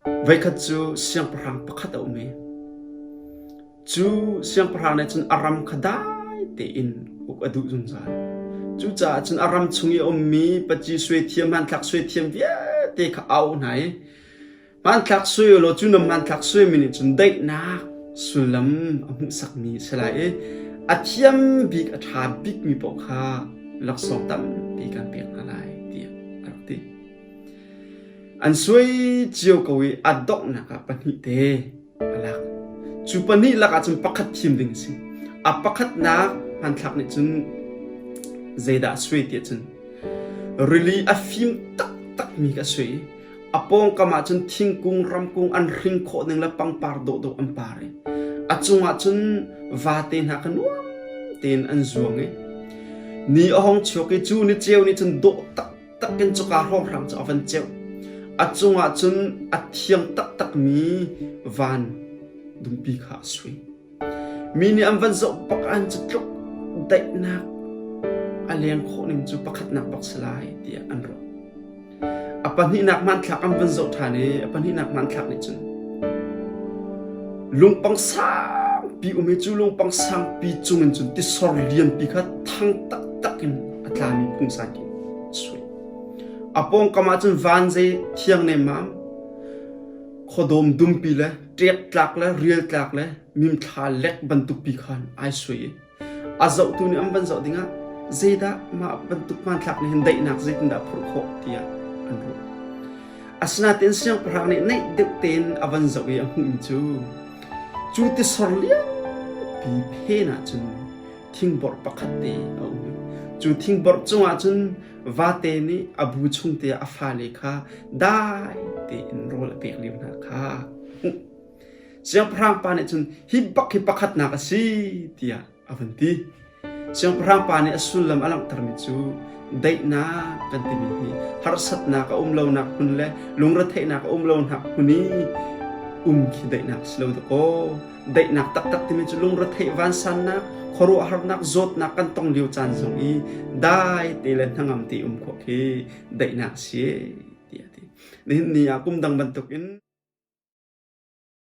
Voikhat cu siangpahrang pakhat a um i cu siangpahrang nih cun a ram kha dai tein uk a duh zungzal. Cucaah cun a ram chung i a ummi paci suai thiam, hmanthlak suai thiam vialte kha a auh hna i hmanthlak suai u law cu na hmanthlak suaimi nih cun daihnak sullam a hmuhsakmi a si lai i a thiam bik, a ṭha bikmi paoh kha laksawng tampi kan pek hna lai, tiah a rak ti. An suai cio ko i a donghnak ah pahnih te a lak. Cu pahnih lakah cun pakhat thim ding a si. A pakhatnak hmanthlak nih cun zeidah a suai tiah cun rili a fim taktakmi ka suai i a pawngkam ah cun thingkung ramkung an hring khawh ning le pangpar dawhdawh an par i a cungah cun vate hna kha nuam tein an zuang i ni a hong chuak i cu ni ceu nih cun dawh tak takin cuka hrawnghrang cu a van ceuh. A cungah cun a thiang taktakmi van dumpi kha a sui. Mi nih an van zoh bakan cu tluk daihnak a leng khawh ning cu pakhatnak bak si lai tiah an ruah. A pahnihnak hmanthlak an van zoh ṭhan i a pahnihnak hmanthlak nih cun lungpang sangpi um i cu lungpang sangpi cungin cun tisor lianpi kha thang taktak in a tlami phungsa A pawngkam ahcun van zei thiang nemmam, khuadawm dumpi le ṭektlak le rialtlak le mimthla lek bantukpi khan ai sui i a zohtu nih an van zoh dingah zeidah mah bantuk hmanthlak nih hin daihnak zeitindah a phurh khawh tiah an ruah. Asinain siangpahrang nih neih deuh tein a van zoh i a hmuhmi cu cu tisor lianpi phen ahcun thingborh pakhat te a um. Cu thingborh cungah cun vate nih a bu chung te a fale kha dai tein rawl a pek lio hna kha siangpahrang pa nih cun hi bak hi pakhatnak a si tiah a vun ti siangpahrang pa nih a sullam a langhtermi cu daihnak kan timi hi harsatnak a um lonak hmun le lungretheihnak a um lonak hmun i um khi daihnak si lo dakaw Daihnak taktak timi cu lungretheih vansannak, khuaruahharnak, zawtnak kan tong lio caan zong i dai te le hnangam te um khawh khi daihnak si tiah ti. Nihin ni ah kum dang bantukin